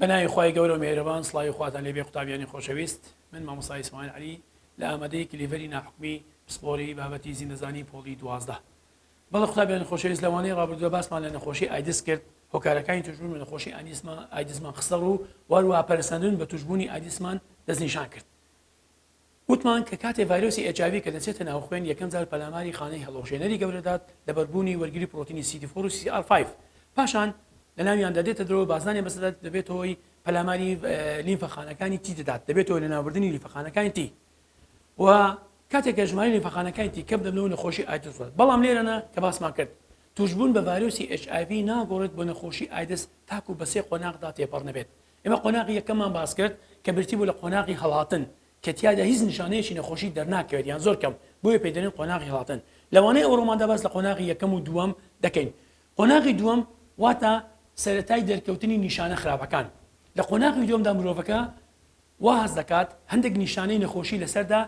بەناوی خوای گەورە و مێرەبان سڵاوی خواتان لێبێ قوتابیانی خۆشەویست من مامۆستا ئیسماعیل عەلی لە ئامادەی کلیڤەری ناحکومی پسپۆڕی بابەتی زیندەزانی پۆڵی دوازدە بەڵێ خودا بێن خۆشەویست لەوانەی ڕابردووە باسمان لە نەخۆشی ئایدس کرد هۆکارەکانی توشبوون بە نەخۆشی ئانیسمان ئایدسمان خستە ڕوو واروها پەرسەندن بە توشببوونی ئایدسمان دەستنیشان کرد وتمان کە کاتێ ڤایرۆسی ئێچاوی کە دەچێتە ناو خوێن یەکەم جار پەلاماری خانەی هەڵۆژێنەری گەورەدات لە بەربوونی وەرگری پرۆتینی سیدی فۆر و سی ئار 5 پاشان لە ناویاندا دێتە درەوە بازانێ بەسەدات دەبێتەوەی پەلاماری لیمفەخانەکانی تی دەدات دەبێتەوە لە ناوردنی لیفەخانەکانی تی و کاتێک کە ژماری نەفەقانەکانی تی کەم دەبنەوە نەخۆشی ئایدز ڕێت بەڵام لێرەنا کە باسمان کرد توشبوون بە ڤایرۆسی HIV ناگۆڕێت بۆ نەخۆشی ئایدز تاکو بە سێ قۆناغدا تێپەڕ نەبێت ئێمە قۆناغی یەکەمان باس کرد کە برتی بوو لە قۆناغی هەڵاتن کە تیادا هیچ نیشانەیەکی نەخۆشی دەرناکەوێت یان زۆر کەم بۆیە پێدەێن قۆناغی هەڵاتن لەوانەیە ئەوڕۆماندا باس لە قۆناغی یەکەم و دووەم دەکەین قۆناغی دووەم واتە سەتای دەرکەوتنی نیشانە خراپەکان لە قۆناغی دووەمدا مرۆڤەکە وا هەست دەکات هەندێک نیشانەی نەخۆشی لەسەردا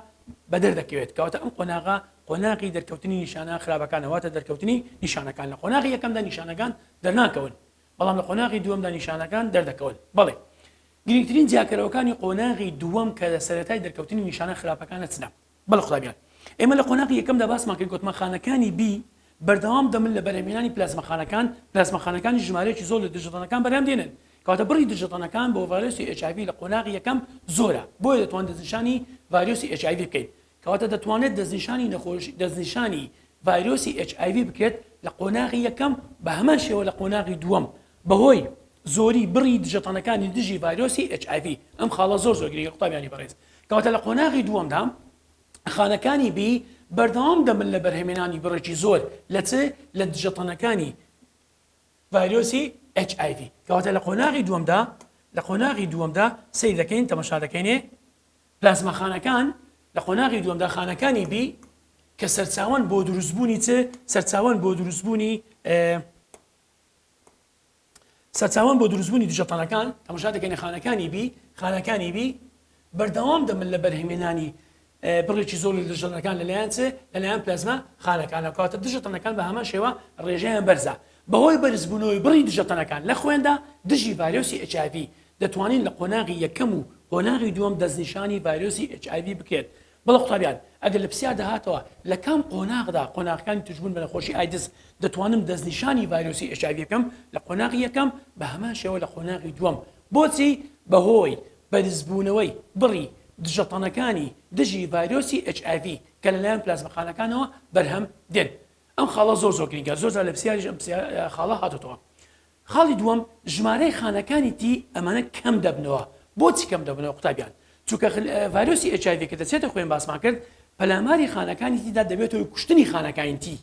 بەدەر دەکەوێت، کەواتە ئەم قۆناغە قۆناغی دەرکەوتنی نیشانە خراپەکانە، واتە دەرکەوتنی نیشانەکان، لە قۆناغی یەکەمدا نیشانەکان دەرناکەون، بەڵام لە قۆناغی دووەمدا نیشانەکان دەردەکەون. بەڵێ گرنگترین جیاکەرەوەکانی قۆناغی دووەم کە لە سەرەتای دەرکەوتنی نیشانە خراپەکانە چنە؟ بەڵێ خودا بیان. ئێمە لە قۆناغی یەکەمدا باسمان کرد گۆتمەخانەکانی بی بەردەوام دەبن لە بەرهەمهێنانی پلازماخانەکان، پلازماخانەکانیش ژمارەیەکی زۆر لە دژەتەنەکان بەرهەم دێنن، کەواتە بڕی دژەتەنەکان بۆ ڤایرۆسی ئێچ ئای ڤی لە قۆناغی یەکەم زۆرە، بۆیە دەتوانین دەستنیشانی ڤایرۆسی ئێچ ئای ڤی بکەین. کەواتە دەتوانرێت دەستنیشانی نەخۆش دەستنیشانی ڤایرۆسی ئێچ ئای ڤی بکرێت لە قۆناغی یەکەم، بە هەمان شێوە لە قۆناغی دووەم بەهۆی زۆری بڕی دژەتەنەکانی دژی ڤایرۆسی ئێچ ئای ڤی، ئەم خاڵە زۆر زۆر گرنگە قوتابیانی بەڕێز. کەواتە لە قۆناغی دووەمدا خانەکانی بی بەردەوام دەبن لە بەرهەمێنانی بڕێکی زۆر لە چ لە دژەتەنەکانی ڤایرۆسی HIV کەواتە لە قۆناغی دووەمدا لە قۆناغی دووەمدا سەیر دەکەین تەمەشا دەکەینێ پلازماخانەکان لە قۆناغی دووەمدا خانەکانی بی کە سەرچاوان بۆ دروستبوونی چ سەرچاوان بۆ دروستبوونی سەرچاوان بۆ دروستبوونی دژەتەنەکان تەمەشا دەکەینە خانەکانی بی، خانەکانی بی بەردەوام دەبن لە بەرهەمێنانی بڕێکی زۆر لە دژەتەنەکان لەلایەن چ لەلایەن پلازما خانەکانە کاتە دژەتەنەکان بە هەمان شێوە ڕێژەیان بەرزە بەهۆی بەرزبوونەوەی بڕی دژەتەنەکان لە خوێندا دژی ڤایرۆسی ئەچاڤی دەتوانین لە قۆناغی یەکەم و قۆناغی دووەم دەستنیشانی ڤایرۆسی ئەچاڤی بکرێت بەڵێ قوتابیان، ئەگەر لە پرسیاردا هاتەوە لە کام قۆناغدا قۆناغەکانی توشبوون بە نەخۆشی ئایدز دەتوانم دەستنیشانی ڤایرۆسی ئێچ ئای ڤی بکەم لە قۆناغی یەکەم بە هەمان شێوە لە قۆناغی دووەم بۆچی بەهۆی بەرزبوونەوەی بڕی دژەتەنەکانی دژی ڤایرۆسی ئێچ ئای ڤی کە لەلایەن پلازمەخانەکانەوە بەرهەم دێن ئەم خاڵە زۆر زۆر گرنگە زۆرجار لە پرسیاریش ئەم خاڵە هاتۆتەوە خاڵی دووەم، ژمارەی خانەکانی تی ئەمانە کەم دەبنەوە، بۆچی کەم دەبنەوە قوتابیان؟ چونکە ڤایرۆسی ئێچ ئای ڤی کە دەچێتە خوێن باسمان کرد پەلاماری خانەکانی تیدا دەبێتە هۆی کوشتنی خانەکانی تی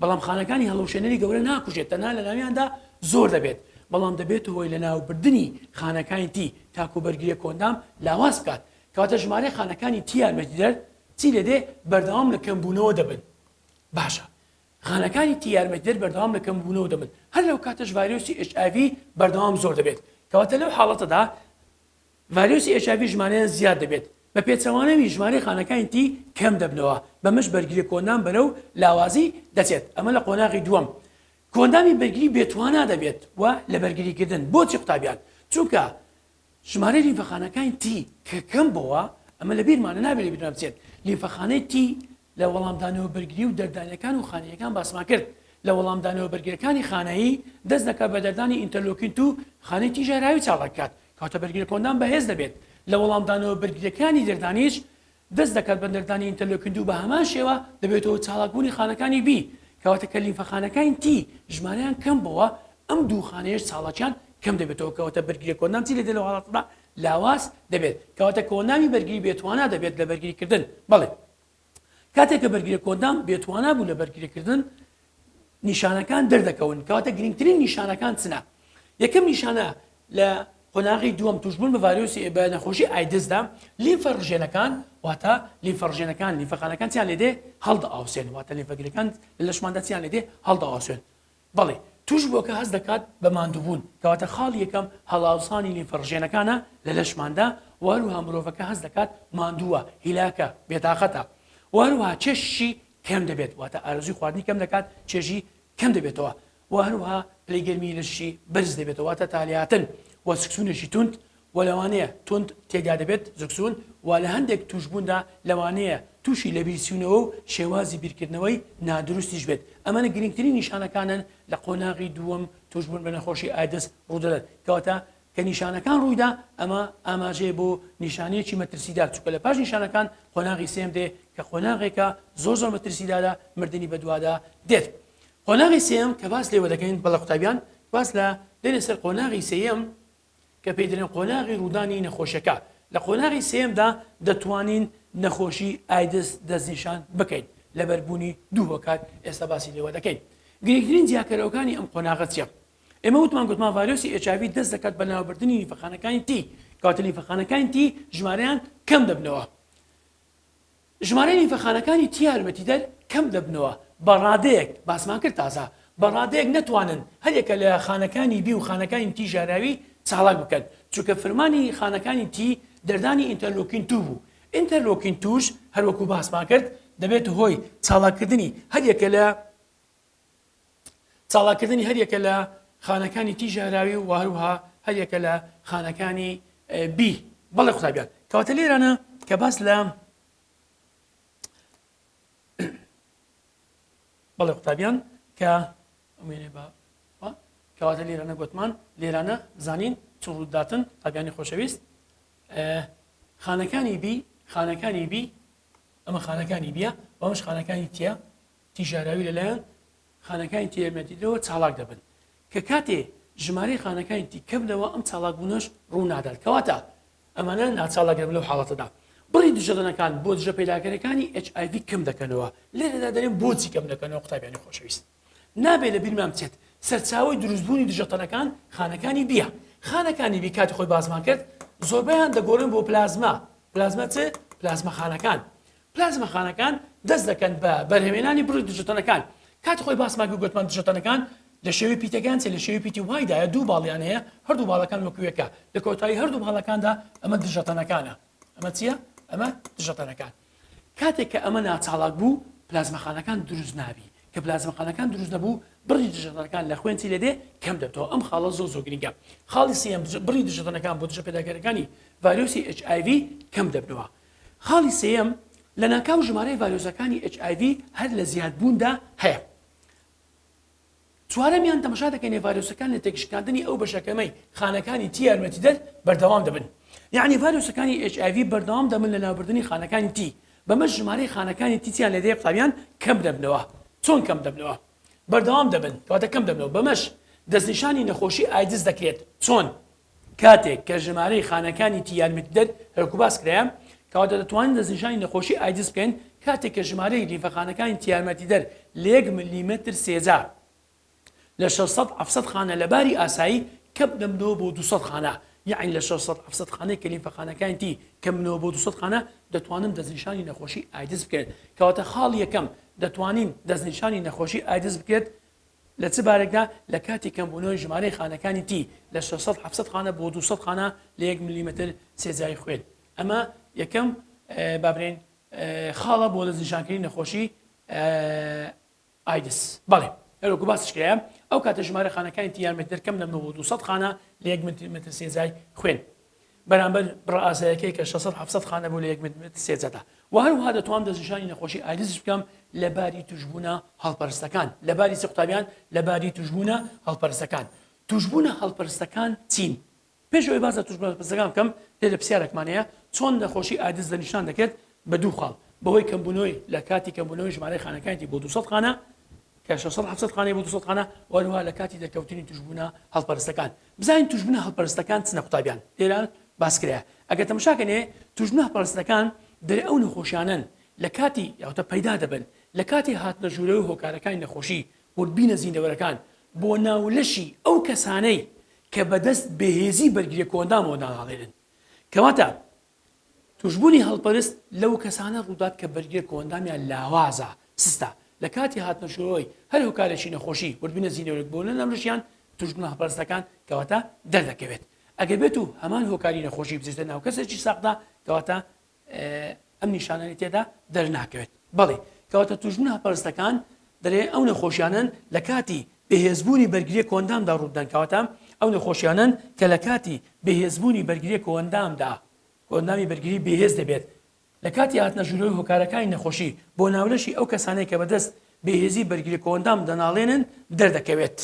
بەڵام خانەکانی هەڵەوشێنەری گەورە ناکوژێت تەنها لە ناویاندا زۆر دەبێت بەڵام دەبێتە هۆی لەناوبردنی خانەکانی تی تاکو بەرگریە کۆندام لاواز بکات کەواتە ژمارەی خانەکانی تی یارمەتیدەر چی لێدێ بەردەوام لە کەمبوونەوە دەبن باشە خانەکانی تی یارمەتیدەر بەردەوام لە کەمبوونەوە دەبن، هەر لەو کاتەش ڤایرۆسی ئێچ ئای ڤی بەردەوام زۆر دەبێت، کەواتە لەو حاڵەتەدا ڤایرۆسی ئێچ ئای ڤی ژمارەیان زیاد دەبێت، بە پێچەوانەوی ژمارەی خانەکانی تی کەم دەبنەوە، بەمەش بەرگری کۆندام بەرەو لاوازی دەچێت، ئەمە لە قۆناغی دووەم کۆندامی بەرگری بێتوانا دەبێت و لە بەرگریکردن بۆچی قوتابیان؟ چونکە ژمارەی لیمفەخانەکانی تی کە کەم بۆوە، ئەمە لە بیرمانە نابێت لە بیرمان بچێت، لیمفەخانەی تی لە وەڵامدانەوە بەرگری و دەردانەکان و خانەییەکان باسمان کرد، لە وەڵامدانەوە بەرگرەکانی خانەیی دەست دەکات بە دەردانی ئینتەرلۆکین توو خانەی تی ژەهراوی چاڵ دەکات کەواتە بەرگرە کۆندان بەهێز دەبێت، لە وەڵامدانەوە بەرگریەکانی دەردانیش دەست دەکات بە نەردانی ئینتەرلۆکین دوو بە هەمان شێوە دەبێتەوە چاڵاک بوونی خانەکانی بی کەواتە کە لیمفە خانەکاین تی ژمارەیان کەم بۆوە ئەم دوو خانەیەش چاڵاکیان کەم دەبێتەوە کەواتە بەرگریە کۆندام چی دەبێت لەو حاڵەتەدا لاواز دەبێت کەواتە کۆندامی بەرگری بێتوانا دەبێت لە بەرگری کردن بەڵێ کاتێک کە بەرگریە کۆندام بێتوانا بوو لە بەرگری کردن نیشانەکان دەردەکەون کەواتە گرنگترین نیشانەکان چنە یەکەم نیشانە لە قۆناغی دووەم توشبوون بە ڤایرۆسی بە نەخۆشی ئایدزدا لیفە ڕژێنەکان واتە لیفە ڕژێنەکان لیفەخانەکان چیان لێدێ هەڵدە ئاوسێن واتە لیفەگرەکان لە لەشماندا چیان لێدێ هەڵدە ئاوسێن بەڵێ توش بۆکە هەست دەکات بە ماندووبوون کەواتە خاڵ یەکەم هەڵاوسانی لیفەڕژێنەکانە لە لەشماندا واروها مرۆڤەکە هەست دەکات ماندووە هیلاکە بێتاقەتە واروها چێشی کەم دەبێت واتە ئارەزووی خواردنی کەم دەکات چێژی کەم دەبێتەوە وە هەروەها پلەی گەرمی لەشی بەرز دەبێتەوە واتە تالیاتن وە سکسونێکی توند وە لەوانەیە توند تێدا دەبێت زکسون وە لە هەندێک توشبووندا لەوانەیە تووشی لەبیرچوونەوە و شێوازی بیرکردنەوەی نادروستیش بێت ئەمەە گرنگترین نیشانەکانن لە قۆناغی دووەم توشبوون بە نەخۆشی ئایدز ڕوودەدەن کەواتە کە نیشانەکان ڕوویدا ئەمە ئاماژەیە بۆ نیشانەیەکی مەترسیدار چونکە لە پاش نیشانەکان قۆناغی سێم دێ کە قۆناغێکە زۆر زۆر مەترسیدارە مردنی بەدوادا دێت قۆناغی سێم کە باس لێوە دەکەین بەڵە قوتابیان باس لە دێنێ سەر قۆناغی سێم کە پێی دەێن قۆناغی ڕوودانی نەخۆشەکە لە قۆناغی سێمدا دەتوانین نەخۆشی ئایدس دەستنیشان بکەین لەبەربوونی دوو هۆکار ئێستا باسی لێوە دەکەین گرنگترین جیاکەرەوەکانی ئەم قۆناغە چیە ئێمە وتمان گوتمان ڤایرۆسی ئێچاڤی دەست دەکات بە ناوبردنی لیفەخانەکانی تی کەواتە لیفەخانەکانی تی ژمارەیان کەم دەبنەوە ژمارەی لیفەخانەکانی تی یارمەتیدەر کەم دەبنەوە بە ڕادەیەک باسمان کرد تازە بە ڕادەیەک نەتوانن هەرێکە لە خانەکانی بی و خانەکانی تی ژاراوی چاڵاک بکەن چونکە فرمانی خانەکانی تی دەردانی ئینتەرلۆکین تو بوو ئینتەرلۆکین توش هەروەکو باسمان کرد دەبێت هۆی چاڵاکردنی هەرێکە لە چالاککردنی هەریەکە لە خانەکانی تی ژەهراوی و هەروها هەریەکە لە خانەکانی بی بەڵێ قوتابیان کەواتە لێرانە کە باس لە بەڵێ قوتابیان کە ئەمێنێ بە کەواتە لێرانە گوتمان لێرانە زانین چ ڕووداتن تاگانی خۆشەویست خانەکانی بی خانەکانی بی ئەمە خانەکانی بیە بەمش خانەکانی تیە تیژاراوی لەلایەن خانەکانی تێیەمەدیدەوە چاڵاک دەبن کە کاتێ ژمارەی خانەکانی تی کەم دەوە ئەم چاڵاکبوونەش ڕوو نادات کەواتە ئەمانە ناچاڵاک دەبن لەو حاڵەتەدا بڕی دژەدەنەکان بۆ دژە پەیداکەرەکانی HIV کەم دەکەنەوە لێرەدا دەرێن بۆچی کەم دەکەنەوە قوتابیانی خۆشەویست نابێ لە بیرمان بچێت سەرچاوی دروستبوونی دژەتەنەکان خانەکانی بیە خانەکانی بی کاتی خۆی بازمان کرد زۆربیان دەگۆڕن بۆ پلازما پلازما چ پلازمەخانەکان پلازماخانەکان دەست دەکەن بە بەرهەمێنانی بڕی دژەتەنەکان کاتی خۆی باسمان کرد گوتمان دژەتەنەکان لە شێوەی پیتەکان چێ لە شێوەی پیتی وایدایە دوو باڵیان هەیە هەردوو باڵەکان وەکوێکە لە کۆتایی هەردوو باڵەکاندا ئەمە دژەتەنەکانە ئەمە چییە ئەمە دژەتەنەکان کاتێک کە ئەمە ناچاڵک بوو پلازمەخانەکان دروست نابی کە پلازمەخانەکان دروست نەبوو بڕی دژەتەنەکان لە خوێنی لێدێ کەم دەبتەوە ئەم خاڵە زۆ زۆ گرنگە خاڵی سم بڕی دژەتەنەکان بۆ دژە پێداگەرەکانی ڤایرۆسی HIV کەم دەبنەوە خاڵی سێیەم، لەناکاو ژمارەی ڤایرۆسەکانی ئێچ ئای ڤی هەر لە زیادبووندا هەیە. چوارەمیان، تەمەشا دەکەینێ ڤایرۆسەکان لە تێکشکاندنی ئەو بەشە کەمەی خانەکانی تی یارمەتیدەر بەردەوام دەبن. یەعنی ڤایرۆسەکانی ئێچ ئای ڤی بەردەوام دەبن لە لابردنی خانەکانی تی، بەمەش ژمارەی خانەکانی تی تیان لەدێ قوتابیان کەم دەبنەوە. چۆن کەم دەبنەوە؟ بەردەوام دەبن، کەواتە کەم دەبنەوە. بەمەش دەستنیشانی نەخۆشی ئایدز دەکرێت. چۆن؟ کاتێک کە ژمارەی خانەکانی تی یارمەتیدەر هەرە کوباس کرایە، کەواتە دەتوانین دەستنیشانی نەخۆشی ئایدز بکەین کاتێک کە ژمارەی لیمفەخانەکانی تی یارمەتیدەر لە یەک ملیمەتر سێجا لە شەش سەد حەفت سەد خانە لە باری ئاسایی کەمدەبنەوە بۆ دوو سەد خانە، یەعنی لە شەش سەد حەفت سەد خانەی کە لیمفەخانەکانی تی کەمبنەوە بۆ دوو سەد خانە دەتوانن دەستنیشانی نەخۆشی ئایدز بکەن. کەواتە خاڵی یەکەم دەتوانین دەستنیشانی نەخۆشی ئایدز بکرێت لە چ بارێکدا لە کاتی کەمبوونەوەی ژمارەی خانەکانی تی لە شەش سەد حەفت سەد خانە بۆ دوو سەد خانە لە یەک ملیمەتر سێجای خوێن ئەمە یەکەم با برێن خاڵە بۆ دەستنیشانکردنی نەخۆشی ئایدس بەڵێ هەروەکو باسش کرایە ئەو کاتە ژمارە خانەکانی تیارمەتر کەم لە 1970 خانە لە یەک متر متر سێزای خوێن بەرامبەر بڕە ئاسایەکەی کە شەش سەد حەفت سەد خانە بوو لە یەک متر سێ جەدا و هەروەها دەتوانم دەستنیشانی نەخۆشی ئایدزیش بکەم لە باری تووشبوونە هەڵپەرستەکان لە باری چی قوتابیان لە باری تووشبوونە هەڵپەرستەکان تووشبوونە هەڵپەرستەکان چین پێش ئەوەی باس لە تووشبوونە هەڵپەرستەکان بکەم دێ لە پرسیارێکمان هەیە چۆن نەخۆشی ئایدز دەستنیشان دەکرێت بە دوو خاڵ بەهۆی کەمبوونەوەی لە کاتی کەمبوونەوەی ژمارەی خانەکانیی بۆ 200 خانە کە 600 خانەی بۆ 200 خانە وەروها لە کاتی دەرکەوتنی توشبوونا هەڵپەرستەکان بزانین توشبونە هەلپەرستەکان چنە قوتابیان لێرە باس کرایە ئەگەر تەمشا کەنێ توشبونە هەپەرستەکان دەرێ ئەو نەخۆشیانەن لە کاتی یاوتە پەیدا دەبن لە کاتی هاتنە ژورەوەی هۆکارەکانی نەخۆشی وردبینە زیندەوەرەکان بۆ ناو لەشی ئەو کەسانەی کە بەدەست بێهێزی بەرگریە کۆئەندامەوە داناڵێنن کەواتە توشبوونی هەڵپەرست لەو کەسانە ڕوودات کە بەرگرێ کۆئەندامیان لاوازە، سستە، لە کاتی هاتنەشۆی هەر هۆکارێکی نەخۆشی، وردبینە زینۆرێک بۆ نەنام لەشیان توشبوونە هەڵپەرستەکان کەواتە دەردەکەوێت ئەگەر بێت و هەمان هۆکاری نەخۆشی بچێتە ناو کەسێکی ساغدا کەواتە ئەم نیشانانەی تێدا دەرناکەوێت بەڵی کەواتە توشبوونە هەڵپەرستەکان دەرێ ئەو نەخۆشیانەن لە کاتی بەهێزبوونی بەرگرییە کۆئەندامدا ڕوودەدەن، کەواتە ئەو نەخۆشییانەن کە لە کاتی بەهێزبوونی بەرگرییە کۆئەندامدا کۆئەندامی بەرگری بێهێز دەبێت لە کاتی هاتنەژوورەوەی هۆکارەکانی نەخۆشی بۆ ناولەشی ئەو کەسانەی کە بەدەست بێهێزی بەرگرییە کۆئەندام دەناڵێنن دەردەکەوێت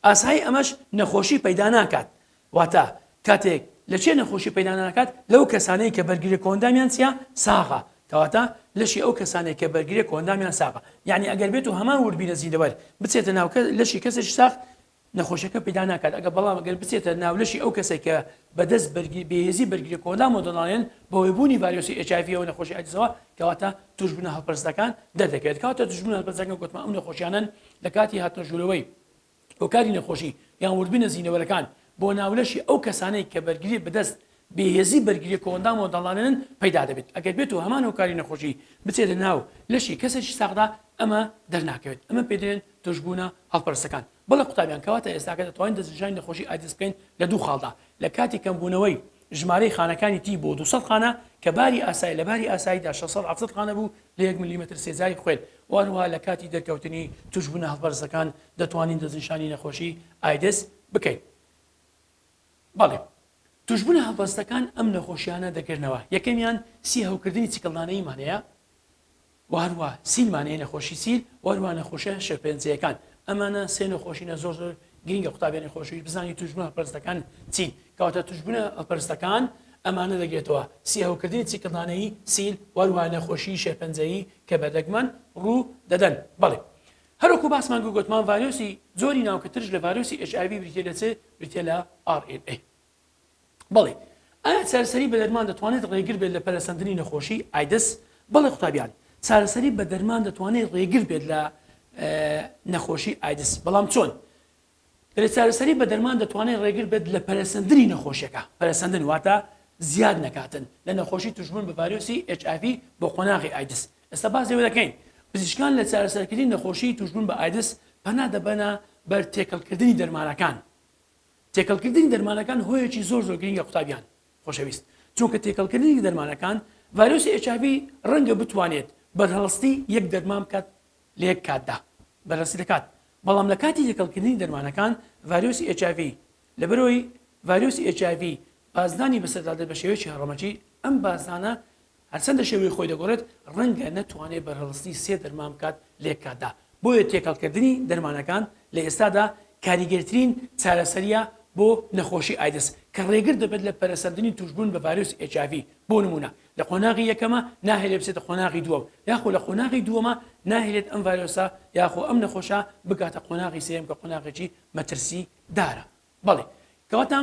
ئاسایی ئەمەش نەخۆشی پەیدا ناکات واتە، کاتێک لە چێ نەخۆشی پەیدا ناکات لەو کەسانەی کە بەرگرە کۆئەندامیان چیە؟ ساغە. کەواتە، لەشی ئەو کەسانەی کە بەرگرە کۆئەندامیان ساغە. یەعنی ئەگەر بێت و هەمان وردبینە زیندەوەر بچێتە ناو لەشی کەسێکی ساغ، نەخۆشیەکە پەیدا ناکات، ئەگەر بەڵام ئەگەر بچێتە ناو لەشی ئەو کەسەی کە بە دەست بەرگری بێهێزی بەرگرە کۆئەندامەوە دەناڵێنن بەهۆی بوونی ڤایرۆسی ئێچ ئای ڤیەوە نەخۆشی ئایدزەوە، کەواتە توشبوونە هەڵپەرستەکان دەردەکەوێت. کەواتە توشبوونە هەلپەرستەکان گۆتمان ئەو نەخۆشیانەن لە کاتی هاتنە ژوورەوەی، هۆکاری نەخۆشی یان وردبینە زینەوەرەکان بۆ ناولەشی ئەو کەسانەی کە بەرگریێ بەدەست بێهێزی بەرگریێ کۆئەندامەوە دەڵانێنن پەیدا دەبێت ئەگەر بێت و هەمان هۆکاری نەخۆشی بچێتە ناو لەشی کەسێکی ساغدا ئەمە دەرناکەوێت ئەمە پێ دەێن توشبوونە هەڵپەرستەکان بەڵێ قوتابیان کەواتە ئێستاکە دەتوانین دەستنیشانی نەخۆشی ئایدز بکەین لە دوو خاڵدا لە کاتی کەمبوونەوەی ژمارەی خانەکانی تی بۆ دوو سەد خانە کە باری ئاسای لە باری ئاساییدا شەش سەد حەفت سەد خانە بوو لە یەک ملیمەتر سێجای خوێن و هەروەها لە کاتی دەرکەوتنی توشبونە هەڵپەرستەکان دەتوانین دەستنیشانی نەخۆشی ئایدز بکەین بەڵێ توشبونە هەڵپەستەکان ئەم نەخۆشیانە دەگرنەوە یەکەمیان سی هەوکردنی چکلدانەییمان هەیە و هەروەها سیلمان یەی نەخۆشی سیل و هەروەها نەخۆشیە شێرپەنجەیەکان ئەمانە سێ نەخۆشینە زۆر زۆر گرینگە قوتابیانی خۆشەویست بزانی توشبوون هەڵپەرستەکان چین کەواتە توشبوونە هەڵپەرستەکان ئەمانە دەگرێتەوە سیهەوکردنی چیکردانەیی سیل و هەروەها نەخۆشی شێرپەنجەیی کە بە دەگمەن ڕوو دەدەن بەڵێ هەروەکو باسمان گوگوتمان ڤایرۆسی جۆری ناوکە ترش لە ڤایرۆسی HIV بریتیە لە چ بریتیە لە RNA بەڵی ئایا چارەسەری بە دەرمان دەتوانێت ڕێگر بێت لە پەرەسەندنی نەخۆشی ئایدز؟ بەڵێ قوتابیان چارەسەری بە دەرمان دەتوانێت ڕێگر بێت لە نەخۆشی ئایدز بەڵام چۆن؟ دەێت چارەسەری بە دەرمان دەتوانێت ڕێگر بێت لە پەرەسەندنی نەخۆشیەکە پەرەسەندن واتە زیاد نەکاتن لە نەخۆشی توشبوون بە ڤایرۆسی HIV بۆ قۆناغی ئایدز ئێستا باز لێوە دەکەین پزیشکان لە چارەسەرکردنی نەخۆشی توشبوون بە ئایدز پەنا دەبەنە بەر تێکەڵکردنی دەرمانەکان تێکەڵکردنی دەرمانەکان هۆیەکی زۆر زۆر گرنگە قوتابیان خۆشەویست چونکە تێکەڵکردنی دەرمانەکان ڤایرۆسی ئێچابی ڕەنگە بتوانێت بەرهەڵستی یەک دەرمان بکات لە یەک کاتدا بەرەسی دەکات بەڵام لە کاتی تێکەڵکردنی دەرمانەکان ڤایرۆسی ئێچاڤی لەبەرەوەی ڤایرۆسی ئێچاڤی بازدانی بەسەردادە بە شێوەیەکی هەڕەمەکی ئەم بازدانە هەرچەندە شێوەی خۆی دەگۆڕێت، ڕەنگە نەتوانێت بەرهەڵستی سێ دەرمان بکات لەیەککاتدا، بۆیە تێکەڵکردنی دەرمانەکان لە ئێستادا کاریگەرترین چارەسەرییە بۆ نەخۆشی ئایدز، کە ڕێگر دەبێت لە پەرەسەندنی تووشبوون بە ڤایرۆسی ئێچ ئای ڤی، بۆ نموونە لە قۆناغی یەکەمە ناهێلێت بچێتە قۆناغی دووەم، یاخۆ لە قۆناغی دووەمە ناهێلێت ئەم ڤایرۆسە یاخۆ ئەم نەخۆشە بگاتە قۆناغی سێیەم کە قۆناغێکی مەترسیدارە. بەڵێ کەواتە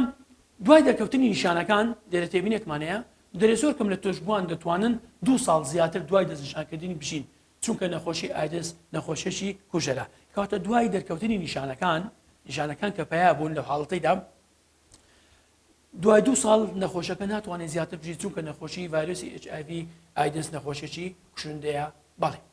دوای دەرکەوتنی نیشانەکان لێرە تێبینێکمان هەیە دەرێ زۆر کەم لە توشبووان دەتوانن دوو ساڵ زیاتر دوای دەستنیشانکردنی بژین چونکە نەخۆشی ئایدز نەخۆشیی کوژەرە کەواتە دوای دەرکەوتنی نیشانەکان نیشانەکان کە پیا بوون لە حاڵەتەیدا دوای دوو ساڵ نەخۆشەکە ناتوانێت زیاتر بژی چونکە نەخۆشی ڤایرۆسی HIV ئایدنس نەخۆشێکی کوشندەیە بەڵێ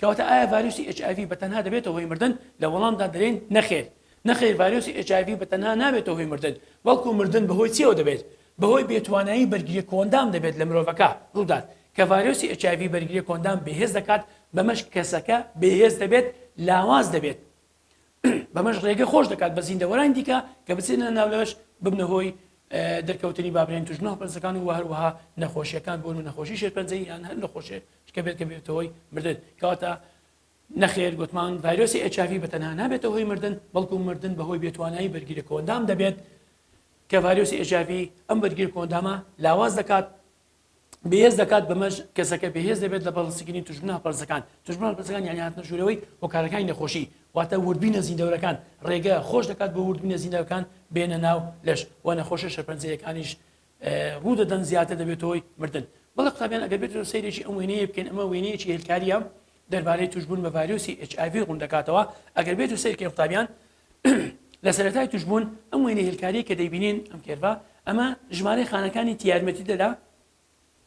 کەواتە ئایا ڤایرۆسی ئێچ ئای ڤی بە تەنها دەبێتە هۆی مردن؟ لە وەڵامدا دەلێین نەخێر. نەخێر ڤایرۆسی ئێچ ئای ڤی بە تەنها نابێتە هۆی مردن، بەڵکو مردن بە هۆی چیەوە دەبێت؟ بە هۆی بێ توانایی بەرگریە کۆئەندام دەبێت لە مرۆڤەکە ڕوودات. کە ڤایرۆسی ئێچ ئای ڤی بەرگریە کۆئەندام بێهێز دەکات بەمەش کەسەکە بێهێز دەبێت، لاواز دەبێت. بەمەش ڕێگە خۆش دەکات بە زیندەوەرانی دیکە کە بچێنە ناو لەش ببنە هۆی دەرکەوتنی بابرێن توش نۆ پرسەکان و هەروەها نەخۆشیەکان بۆن و نەخۆشی شێرپەنجەی یان هەر نەخۆشێ شکە بێت کە بێتەوەی مردن کەواتە نەخێر گوتمان ڤایرۆسی ئەچوی بە تەنها نابێتە هۆی مردن بەڵکو مردن بەهۆی بێتوانایی بەرگیرە کۆندام دەبێت کە ڤایرۆسی ئەژاوی ئەم بەرگیر کۆندامە لاواز دەکات بەهێز دەکات بەمەش کەسەکە بەهێز دەبێت لە بەڵسیکردنی توشبوون هەپەرزەکان توشبوون هەپەرزەکان یانی هاتنە ژوورەوەی هۆکارەکانی نەخۆشی واتە وردبینە زیندەورەکان ڕێگە خۆش دەکات بۆ وردبینە زیندەکان بێنە ناو لەش و نەخۆشە شەپەنجەیەکانیش ڕوو دەدەن زیاتر دەبێت هۆی مردن بەڵە قوتابیان ئەگەر بێت سەیرێکی ئەم وێنەیە بکەین ئەمە وێنەیەکی هێلکاریە دەربارەی توشبوون بە ڤایرۆسی HIV ڕوون دەکاتەوە ئەگەر بێت و سەیرکەی قوتابیان لە سەرەتای توشبوون ئەم وێنە هێلکاریە کە دەیبینین ئەم کێرڤە ئەمە ژمارەی خانەکانی تیارمەتی دەدا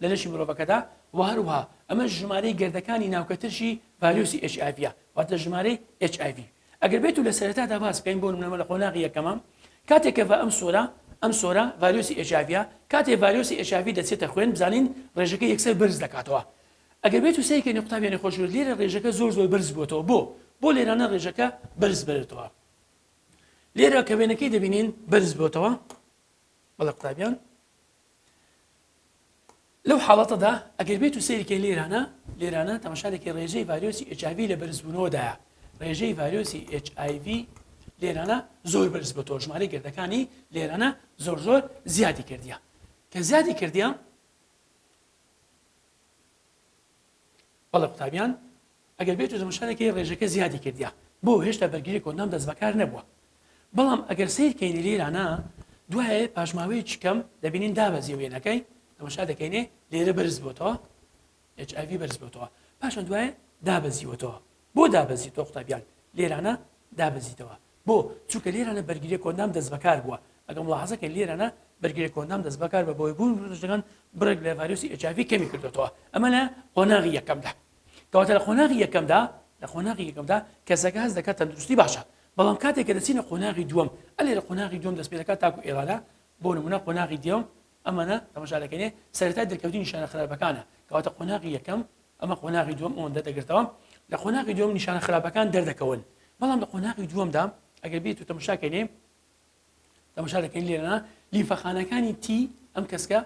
لە لەشی مرۆڤەکەدا و هەروها ئەمە ژمارەی گردەکانی ناوکەترشی ڤایرۆسی HIV واتە ژمارەی HIV ئەگەر بێت و لە سەرەتادا باس بکەین بۆ منەمە لە قۆناغی یەکەمە کاتێک کە بە ئەم سۆرە ئەم سۆرە ڤایرۆسی HIV کاتێ ڤایرۆسی HIV دەچێتە خوێن بزانین ڕێژەکە یەکسەر بەرز دەکاتەوە ئەگەر بێتو سەیر کەنی قوتابیانی خۆشەویست لێرە رێژەکە زۆر زۆر بەرز بۆتەوە بۆ؟ بۆ لێرانە رێژەکە بەرز بەرێتەوە لێرە کە وێنەکەی دەبینین بەرز بۆتەوە بەڵێ قوتابیان لەو حاڵەتەدا ئەگەر بێت و سەیرکە لێرانە لێرانە تەماشارێکی ڕێژەی ڤایرۆسی HIV لە بەرزبوونەوەدایە ڕێژەی ڤایرۆسی HIV لێرانە زۆر بەرز بە تۆژماری گردەکانی لێرانە زۆر زۆر زیادی کردیە کە زیادی کردیە بەڵێ قوتابیان ئەگەر بێت و زمشانەکەی ڕێژەکە زیادی کردیا بۆ هێشتا بەرگری کۆنام دەست بەکار نەبووە بەڵام ئەگەر سیر کەینی لێرانە دوایە پاشماوەی چکەم دەبینین دابەزی وێنەکەی ئەمەشا دەکەینێ لێرە بەرز بۆتەوە HIV بەرز بۆتەوە پاشان دوایە دابەزیوەتەوە بۆ دابەزیتەوە قوتابیان لێرانە دابەزیتەوە بۆ چووکە لێرانە بەرگری کۆندام دەست بەکار بووە ئەگە مڵحزەکە لێرانە بەرگری کۆندام دەست بەکار بە بۆی بوون ڕژەکان بڕێک لە ڤایرۆسی ئەجاوی کەمی کردوەوە ئەمە لە قۆناغی یەکەمدا کەواتە لە قۆناغی یەکەمدا لە قۆناغی یەکەمدا کەسەکە هەز دەکات تەندروستی باشە بەڵام کاتێک کە دەچینە قۆناغی دووەم ئەلێ لە قۆناغی دوم دەست پێ دەکات تاکو ئێرانە بۆ نمونە قۆناغی دێوم ئەمانە تەماشا دەکەنێ سەرەتای دەرکەوتنی نیشانە خراپەکانە کەواتە قۆناغی یەکەم ئەمە قۆناغی دووەم ئەوەندە دەگرتەوە لە قۆناغی دووەم نیشانە خراپەکان دەردەکەون بەڵام لە قۆناغی دووەمدا ئەگەر بێت و تەماشاکەێ تەماشا دەکەین لێرەنا لیفەخانەکانی تی ئەم کەسکە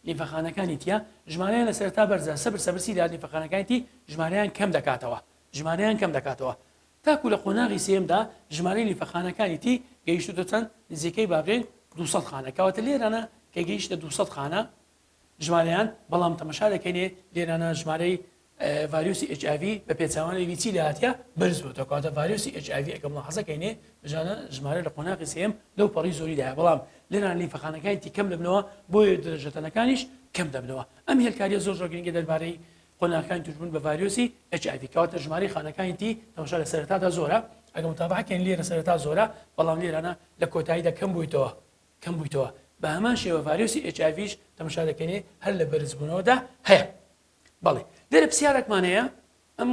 لیفەخانەکانی تیا ژمارەیان لە سەرتا بەرزە سەبر سەبرسی لە لیفەخانەکانی تی ژمارەیان کەم دەکاتەوە ژمارەیان کەم دەکاتەوە تاکو لە قۆناغی سێیەمدا ژمارەی لیفەخانەکانی تی گەیشتووتە چەند، نزیکەی با بڵێین دوو سەد خانە، کەواتە لێرانە کە گەیشتە دوو سەد خانە ژمارەیان، بەڵام تەمەشا دەکەینێ لێرانە ژمارەی ڤایرۆسی ئێچ ئای ڤی بە پێچەوانەیلی چی لێهاتیە بەرز بۆتەوە، کەواتە ڤایرۆسی ئێچ ئای ڤی ئەگەر مولاحەزە کەینێ بژانە ژمارە لە قۆناغی سێیەم لەو پەڕی زۆری دایە، بەڵام لێرانە لیفەخانەکانی تی کەم دەبنەوە بۆیە درەژەتەنەکانیش کەم دەبنەوە. ئەم هێلکاریە زۆر زۆر گرنگە دەربارەی قۆناغەکانی توشبوون بە ڤایرۆسی HIV کەواتە ژمارەی خانەکانی تی تەماشا لە سەرەتادا زۆرە ئەگە متابعەکەن لێرە سەرەتا زۆرە بەڵام لێرانە لە کۆتاییدا کەم بوویتەوە کەم بوویتەوە بە هەمان شێوە ڤایرۆسی HIVش تەماشا دەکەنێ هەر لە بەرزبوونەوەدا هەیە بەڵێ لێرە پرسیارێکمان هەیە ئەم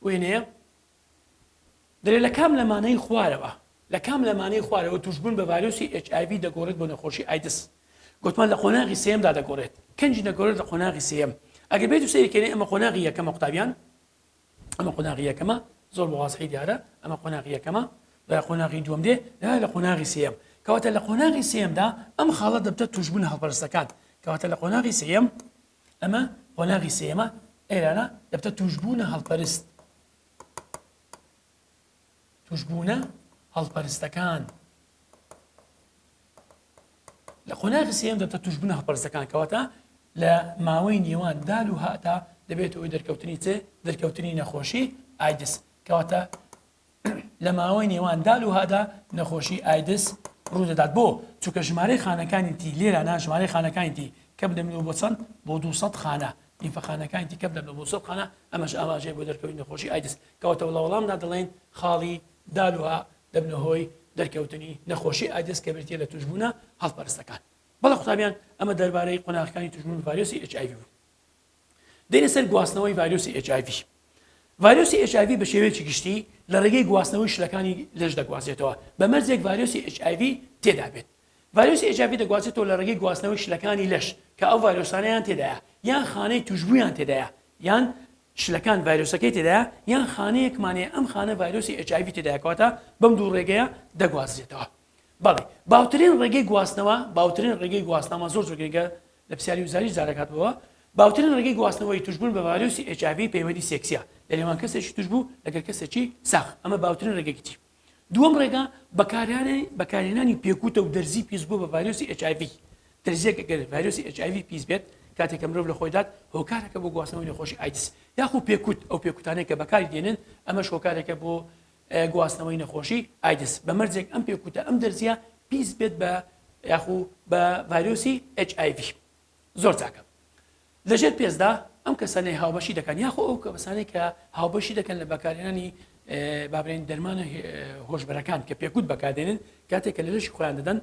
وێنەیە درێ لە کام لەمانەی خوارەوە؟ لە کام لەمانەی خوارەوە تووشبوون بە ڤایرۆسی ئێچ ئای ڤی دەگۆڕێت بۆ نەخۆشی ئایدز؟ گوتمان لە قۆناغی سێیەمدا دەگۆڕێت. کەنجی دەگۆڕێت لە قۆناغی سێیەم. ئەگەر بێتو سەیری کەینێ ئەمە قۆناغی یەکەمە قوتابیان؟ ئەمە قۆناغی یەکەمە، زۆر بە وازحی دیارە ئەمە قۆناغی یەکەمە. دوای قۆناغی دووەم دێ، دوای لە قۆناغی سێیەم. کەواتە لە قۆناغی سێیەمدا ئەم خاڵە دەبتە تووشبوونە هەڵپەرستەکان. کەواتە لە قۆناغی سێیەم، ئەمە قۆناغی سێیەمە، ئێرانە دەبتە تووشبوونە هەڵپەرست. توشبوونە هەڵپەرستەکان لە قۆناغی سێم دەبتە توشبوونە هەڵپەرستەکان کەواتە لە ماوەی نێوان دال و هاتا دەبێت ئەوی دەرکەوتنی چێ دەرکەوتنی نەخۆشی ئایدس کەواتە لە ماوەی نێوان دال و هادا نەخۆشی ئایدس ڕوودەدات بۆ چونکە ژمارەی خانەکانی تی لێرە ناژمارەی خانەکانی تی کەم دەمنەوە بۆ چەند بۆ 200 خانە لیمفەخانەکانی دیکە بدەن بە مووسڵ قانە، ئەمەش ئاماژەیە بۆ دەرکەوتنی نەخۆشی ئایدز، کەواتە لە وەڵامدا دەڵێین خاڵی دال و ها دەبنە هۆی دەرکەوتنی نەخۆشی ئایدز کە بریتییە لە تووشبوونە هەڵپەرستەکان. بەڵێ قوتابیان ئەمە دەربارەی قۆناغەکانی تووشبوون بە ڤایرۆسی ئێچ ئای ڤی بوو. دێنە سەر گواستنەوەی ڤایرۆسی ئێچ ئای ڤی. ڤایرۆسی ئێچ ئای ڤی بە شێوەیەکی گشتی لە ڕێگەی گواستنەوەی شلەکانی لەش دەگوازرێتەوە بە مەرجێک ڤایرۆسی ئێچ ئای ڤی تێدا بێت. ڤایرۆسی ئێچ ئای ڤی دەگوازێتەوە لە ڕێگەی گواستنەوەی شلەکانی لەش کە ئەو ڤایرۆسانەیان تێدایە یان خانەی توشبوویان تێدایە یان شلەکان ڤایرۆسەکەی تێدایە یان خانەیەکمان هەیە ئەم خانە ڤایرۆسی ئێچ ئای ڤی تێدایە کەواتە بەم دوو ڕێگەیە دەگوازرێتەوە بەڵێ باوترین ڕێگەی گواستنەوە باوترین ڕێگەی گواستنەوە زۆر زۆر گرنگە لە پرسیاری وزاری زارەکات بووە باوترین ڕێگەی گواستنەوەی توشبوون بە ڤایرۆسی ئێچ ئای ڤی پەیوەندی سێکسیە لەنێوان کەسێکی توشبوو لەگەڵ کەسێکی ساغ ئەمە باوترین ڕێگەی کتری دووەم ڕێگا بەکارانەی بەکارهێنانی پێکوتە و دەرزی پیسبوو بە ڤایرۆسی HIV دەرزیەک گەر ڤایرۆسی HIV پیس بێت کاتێک کە مرۆڤ لە خۆیدات هۆکارەکە بۆ گواستنەوەی نەخۆشی ئایدز یاخو پێکوت ئەو پێکوتانەی کە بەکاری دێنن ئەمەش هۆکارێکە بۆ گواستنەوەی نەخۆشی ئایدز بە مەرجێک ئەم پێکوتە ئەم دەرزیە پیس بێت بە یاخو بە ڤایرۆسی HIV زۆر چاکە لەژێر پێستدا ئەم کەسانەی هاوبەشی دەکەن یاخۆ ئەو کەسانەی کە هاوبەشی دەکەن لە بەکارێنانی بابرێن دەرمانە هۆشبەرەکان کە پێکوت بەکاردێنن کاتێک کە لە لەشی خۆیان دەدەن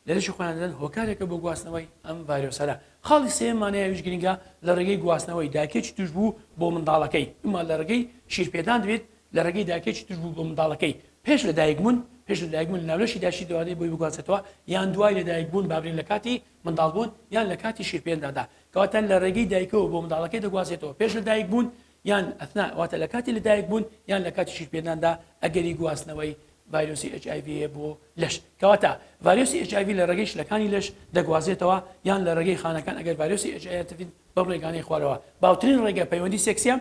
لە لەشی خۆیان دەدەن هۆکارێکە بۆ گواستنەوەی ئەم ڤایرۆسەرە خاڵی سێمانەیەویش گرنگە لە ڕێگەی گواستنەوەی داکێکی توش بوو بۆ منداڵەکەی ئەمە لە ڕێگەی شیرپێدان دەبێت لە ڕێگەی داکێکی توش بوو بۆ منداڵەکەی پێش لە دایکبوون پێش لە دایکبوون ناولەشی داشی دوانێ بۆی بگوازێتەوە یان دوای لە دایکبوون بابرێن لە کاتی منداڵبوون یان لە کاتی شیرپێنداندا، کەواتە لە ڕێگەی دایکەوە بۆ منداڵەکەی دەگوازێتەوە پێش لەدایکبوون یان اثناء واتە لە کاتی لەدایکبوون یان لە کاتی شیرپێنداندا ئەگەری گواستنەوەی ڤایرۆسی HIV هەیە بۆ لەش کەواتە ڤایرۆسی HIV لە ڕێگەی شلەکانی لەش دەگوازێتەوە یان لە ڕێگەی خانەکان ئەگەر ڤایرۆسی HIV بەم ڕێگانەی خوارەوە باوترین ڕێگە پەیوەندی سێکسیە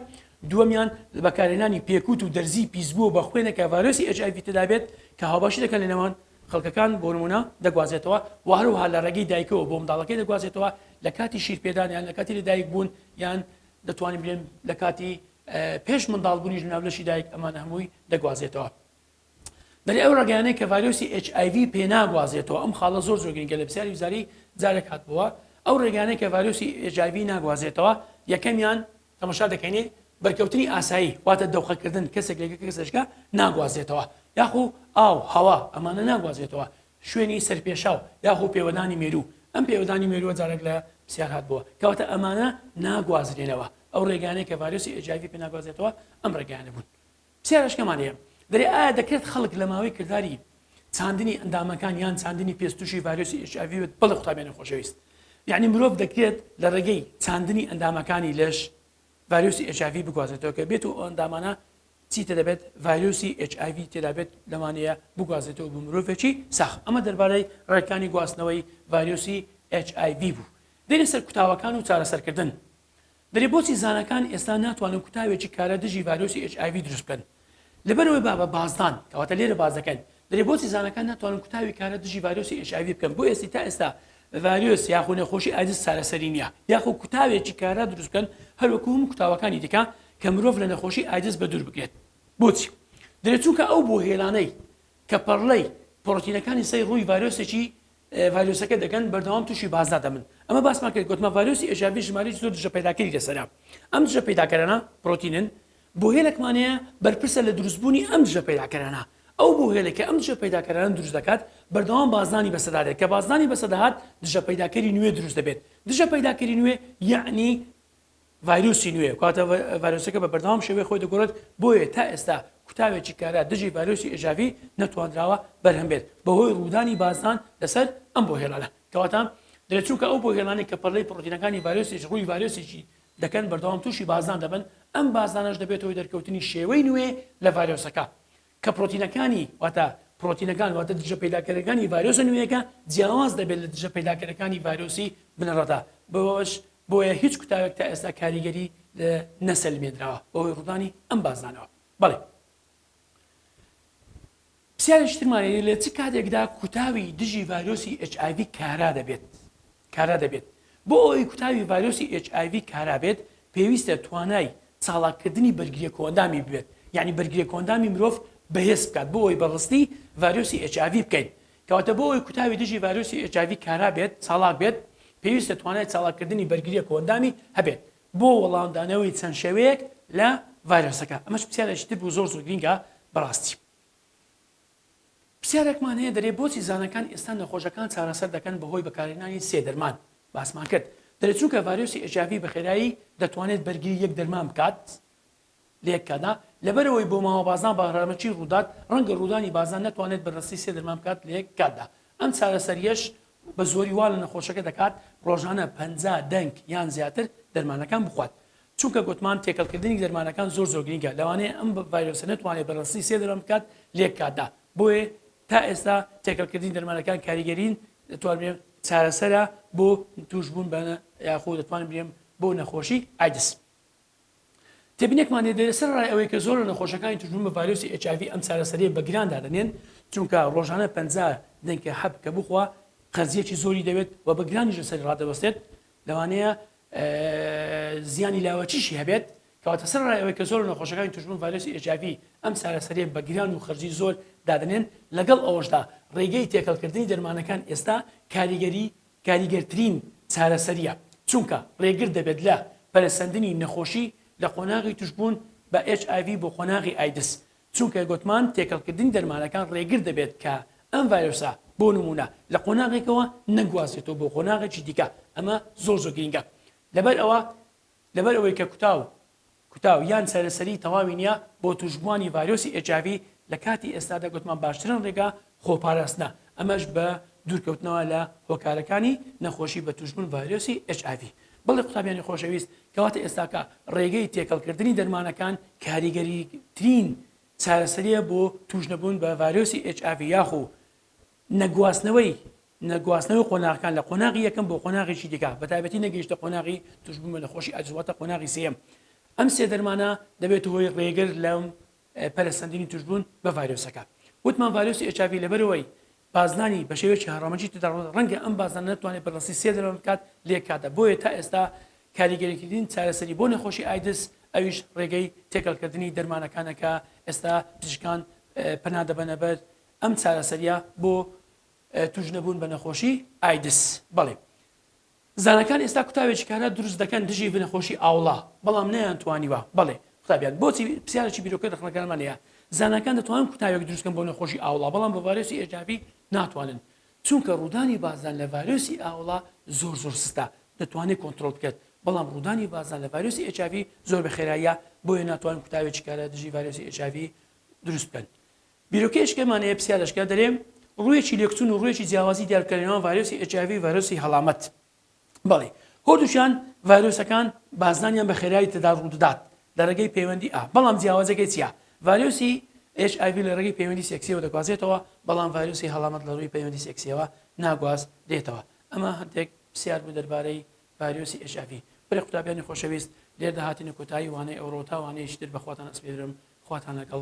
دووەمیان بەکارهێنانی پێکوت و دەرزی پیسبووە بە خوێنە کە ڤایرۆسی HIV تدابێت کە هاوباشی دەکەن لە نێوان خڵکەکان بۆ نموونە دەگوازێتەوە و هەروەها لە ڕێگەی دایکەوە بۆ منداڵەکەی دەگوازێتەوە لە کاتی شیرپێدان یان لە کاتی لەدایک بوون یان دەتوانین بلێن لە کاتی پێش منداڵ بوونیش لەناو لەشی دایک ئەمانە هەمووی دەگوازێتەوە دەری ئەو ڕگەیانەی کە ڤایرۆسی HIV پێ ناگوازێتەوە ئەم خاڵە زۆر زۆر گرنگە لە پرسیاری وزاری جارێک هاتبووە ئەو ڕێگانەی کە ڤایرۆسی HIV ناگوازێتەوە یەکەمیان تەمەشا دەکەینێ بەرکەوتنی ئاسایی واتە دەوقەکردن کەسێک لەگە کەسێشکە ناگوازێتەوە یاخو ئاو هەوا ئەمانە ناگوازێتەوە شوێنی سەرپێشاو یاخو پێوەدانی مێروو ئەم پێوەدانی مێرووە جارێک لە پرسیار هات بووە کەواتە ئەمانە ناگوازرێنەوە ئەو ڕێگانەیە کە ڤایرۆسی ئێجیڤی پێ ناگوازێتەوە ئەم ڕێگانە بوون سێرەشکەمان هەیە دەرێ ئایا دەکرێت خەڵک لە ماوەی کرداری چاندنی ئەندامەکان یان چاندنی پێست تووشی ڤایرۆسی ئێچ ئای ڤی بێت بەڵێ قوتابیانی خۆشەویست یعنی مرۆڤ دەکرێت لە ڕێگەی چاندنی ئەندامەکانی لەش ڤایرۆسی ئێچ ئای ڤی بگوازێتەوە کە بێت و ئەو ئەندامانە چیتە دەبێت ڤایرۆسی ئێچ ئای ڤی تێدا بێت لەوانەیە بگوازێتەوە بۆ مرۆڤێکی ساخ ئەمە دەربارەی ڕێکانی گواستنەوەی ڤایرۆسی ئێچ ئای ڤی بوو دێنە سەر کوتاوەکان و چارەسەرکردن بەلێ بۆچی زانەکان ئێستا ناتوانن کوتاوێکی کارا دژی ڤایرۆسی ئێچ ئای ڤی دروست بکەن لەبەرئەوەی بابە بازدان کەواتە لێرە باس دەکەین بەلێ بۆچی زانەکان ناتوانن کوتاوی کارا دژی ڤایرۆسی ئێچ ئای ڤی بکەن بۆ ئێستی تا ئێستا ڤایرۆس یاخو نەخۆشی ئایدز چارەسەری نیە یاخو کوتاوێکی کارا دروست بکەن هەروەکو هەموو کوتاوەکانی دیکە کە مرۆڤ لە نەخۆشی ئایدز بەدوور بگرێت بۆچی دەلێ چونکە ئەو بۆهێلانەی کە پەڕلەی پڕۆتینەکانی سەی ڕووی ڤایرۆسێکی ڤایرۆسەکە دەگەن بەردەوام توشی بازدا دەبن ئەمە باسمان کرد گوتمان ڤایرۆسی ئێژاڤی ژمارەی زۆر دژە پەیداکەری لەسەرە ئەم دژە پەیداکەرانە پرۆتینن بۆهێلەکمان هەیە بەرپرسە لە دروستبوونی ئەم دژە پەیداکەرانە ئەو بۆهێلە کە ئەم دژە پەیداکەرانە دروست دەکات بەردەوام بازدانی بەسەدا دێت کە بازدانی بەسەدەهات دژە پەیداکەری نوێ دروست دەبێت دژە پەیداکەری نوێ یەعنی ڤایرۆسی نوێ کاتە ڤایرۆسەکە بە بەردەوام شێوێ خۆی دەگۆڕێت بۆیە تا ئێستا کوتاوێکی کارا دژی ڤایرۆسی ئێژاڤی نەتواندراوە بەرهەم بێت بەهۆی ڕوودانی بازدان لەسەر ئەم بۆ هێڵانە کەواتە دەێت چونکە ئەو بۆ هێڵانێک کە پەرلەی پڕۆتینەکانی ڤایرۆسیش ڕووی ڤایرۆسێکی دەکەن بەردەوام تووشی بازدان دەبن ئەم بازدانەش دەبێتەوەی دەرکەوتنی شێوەی نوێ لە ڤایرۆسەکە کە پرۆتینەکانی واتە پرۆتینەکان واتە دژە پەیداکەرەکانی ڤایرۆسە نوێیەکە جیاواز دەبێت لە دژە پەیداکەرەکانی ڤایرۆسی بنەڕەتا بەوەش بۆیە هیچ کوتاوێک تا ئێستا کاریگەری نەسەلمێنراوە بەوەی ڕوودانی ئەم بازدانەوە بەڵێ پرسیارێکترمانەیە لە چ کاتێکدا کوتاوی دژی ڤایرۆسی HIV کارا دەبێت کارا دەبێت. بۆ ئەوەی کوتاوی ڤایرۆسی ئێچ ئای ڤی کارا بێت، پێویستە توانای چاڵاککردنی بەرگرییە کۆئەندامی ببێت، یانی بەرگرییە کۆئەندامی مرۆڤ بەهێز بکات بۆ ئەوەی بە ڕستی ڤایرۆسی ئێچ ئای ڤی بکەین. کەواتە بۆ ئەوەی کوتاوی دژی ڤایرۆسی ئێچ ئای ڤی کارا بێت، چاڵاک بێت، پێویستە توانای چاڵاککردنی بەرگرییە کۆئەندامی هەبێت بۆ وەڵامدانەوەی چەند شێوەیەک لە ڤایرۆسەکە. ئەمەش پرسیارێکی تر بوو زۆر زۆر گرینگە بەڕاستی. پرسیارێکمان هەیە دەرێ بۆچی زانەکان ئێستا نەخۆشەکان چارەسەر دەکەن بەهۆی بەکارهێنانی سێ دەرمان باسمان کرد دەرێ چونکە ڤایرۆسی HIV بەخێرایی دەتوانێت بەرگری یەک دەرمان بکات لە یەک کاتدا لەبەرئەوەی بۆماوە بازنە بەهرەمەکی ڕوودات ڕەنگە ڕوودانی بازنە نەتوانێت بەرڕەستی سێ دەرمان بکات لە یەک کاتدا ئەم چارەسەریەش بەزۆری وا لە نەخۆشەکە دەکات ڕۆژانە پەنجا دەنک یان زیاتر دەرمانەکان بخوات چونکە گوتمان تێکەڵکردنی دەرمانەکان زۆر زۆر گرینگە لەوانەیە ئەم ڤایرۆسە نەتوانێت بە ڕەسنی سێ دەرمان بکات لەیەک کاتدا بۆیە تا ئێستا تێکەڵکردنی دەرمانەکان کاریگەرین دەتوانرێ چارەسەرە بۆ تووشبوون بە یاخۆ دەتوانن برێن بۆ نەخۆشی ئایدس. تێبینێکمان هەیە دەێ سەر ڕای ئەوەی کە زۆر لە نەخۆشەکانی تووشبوون بە ڤایرۆسی ئێچآیڤی ئەم چارەسەرییە بە گران دادەنێن چونکە ڕۆژانە پەنجا دەنکە حەب کە بخوا قەرزییەکی زۆری دەوێت و بە گرانیش لەسەری ڕادەوەستێت لەوانەیە زیانی لاوەکیشی هەبێت، کەواتە سەرەڕای ئەوەی کە زۆر لە نەخۆشەکانی توشبوون ڤایرۆسی ئێچآیڤی ئەم چارەسەرییە بە گران و خەرجی زۆر دادەنێن، لەگەڵ ئەوەشدا ڕێگەی تێکەڵکردنی دەرمانەکان ئێستا کاریگەری کاریگەرترین چارەسەرییە، چونکە ڕێگر دەبێت لە پەرەسەندنی نەخۆشی لە قۆناغی توشبوون بە ئێچآیڤی بۆ قۆناغی ئایدز، چونکە گوتمان تێکەڵکردنی دەرمانەکان ڕێگر دەبێت کە ئەم ڤایرۆسە بۆ نموونە لە قۆناغێکەوە نەگوازرێتەوە بۆ قۆناغێکی دیکە ئەمە زۆر زۆر گرینگە لەبەر ئەوە لەبەر ئەوەی کە کوتا و کوتا و یان چارەسەری تەواوی نییە بۆ توشبووانی ڤایرۆسی ئێچاڤی لە کاتی ئێستادا گوتمان باشترن ڕێگا خۆپاراستنە، ئەمەش بە دوورکەوتنەوە لە هۆکارەکانی نەخۆشی بە تووشبوون ڤایرۆسی ئێچ ئای ڤی. بەڵێ قوتابیانی خۆشەویست، کەواتە ئێستاکە ڕێگەی تێکەڵکردنی دەرمانەکان کاریگەریترین چارەسەرییە بۆ تووشنەبوون بە ڤایرۆسی ئێچ ئای ڤی یاخو نەگواستنەوەی نەگواستنەوەی قۆناغەکان لە قۆناغی یەکەم بۆ قۆناغێکی دیکە بەتایبەتی نەگەیشتە قۆناغی تووشبوون بە نەخۆشی ئایدز واتە قۆناغی سێیەم ئەم سێ دەرمانە دەبێتە هۆی ڕێگر لەم پەرەسەندنی توشبوون بە ڤایرۆسەکە. وتمان ڤایرۆسی ئێچ ئای ڤی لەبەرئەوەی بازنانی بە شێوەیەکی هەڕەمەکی تێدا ڕوودەدات ڕەنگە ئەم بازنانە نەتوانێت بەردەستی سێ دەرمان بکات لە یەک کاتدا بۆیە تا ئێستا کاریگەریترین چارەسەری بۆ نەخۆشی ئایدز ئەویش ڕێگەی تێکەڵکردنی دەرمانەکانە کە ئێستا پزیشکان پەنا دەبەنە بەر ئەم چارەسەرییە بۆ تووشنەبوون بە نەخۆشی ئایدز بەڵێ زانەکان ئێستا کوتاوێکی کارا دروست دەکەن دژی نەخۆشی ئاوڵە، بەڵام نەیانتوانیوە. بەڵێ، قوتابیان، بۆچی؟ پرسیارێکی بیرۆکەی ڕەخنەکەرمان هەیە. زانەکان دەتوانن کوتاوێک دروست بکەن بۆ نەخۆشی ئاوڵە، بەڵام بۆ ڤایرۆسی HIV ناتوانن. چونکە ڕوودانی بازدان لە ڤایرۆسی ئاوڵە زۆر زۆر سستە، دەتوانێت کۆنترۆڵ بکرێت، بەڵام ڕوودانی بازدان لە ڤایرۆسی HIV زۆر بە خێراییە، بۆیە ناتوانن کوتاوێکی کارا دژی ڤایرۆسی HIV دروست بکەن. بیرۆکەی ئەشکەمان ئێ پسیار ئەشکە دەرێ ڕوویەکی لێکچوون و ڕوویەکی جیاوازی دیار بکە لە نێوان ڤایرۆسی ئێچ ئای ڤی و ڤایرۆسی هەڵامەت بەڵی هۆردووکیان ڤایرۆسەکان بازدانیان بە خێرایی تێدا ڕوو دەدات لە ڕێگەی پەیوەندی ئا بەڵام جیاوازەکەی چیە ڤایرۆسی ئێچ ئای ڤی لە ڕێگەی پەیوەندی سێکسیەوە دەگوازێتەوە بەڵام ڤایرۆسی هەڵامەت لە ڕووی پەیوەندی سێکسیەوە ناگواز رێتەوە ئەمە هەندێک پسیار بوو دەربارەی ڤایرۆسی ئێچ ئای ڤی برای قوتابیانی خۆشەویست لێردا هاتینە کۆتایی وانەی ئەوڕۆ تا وانەیەکی تر بەخواتان ئەسپێرم خواتان لەگەڵ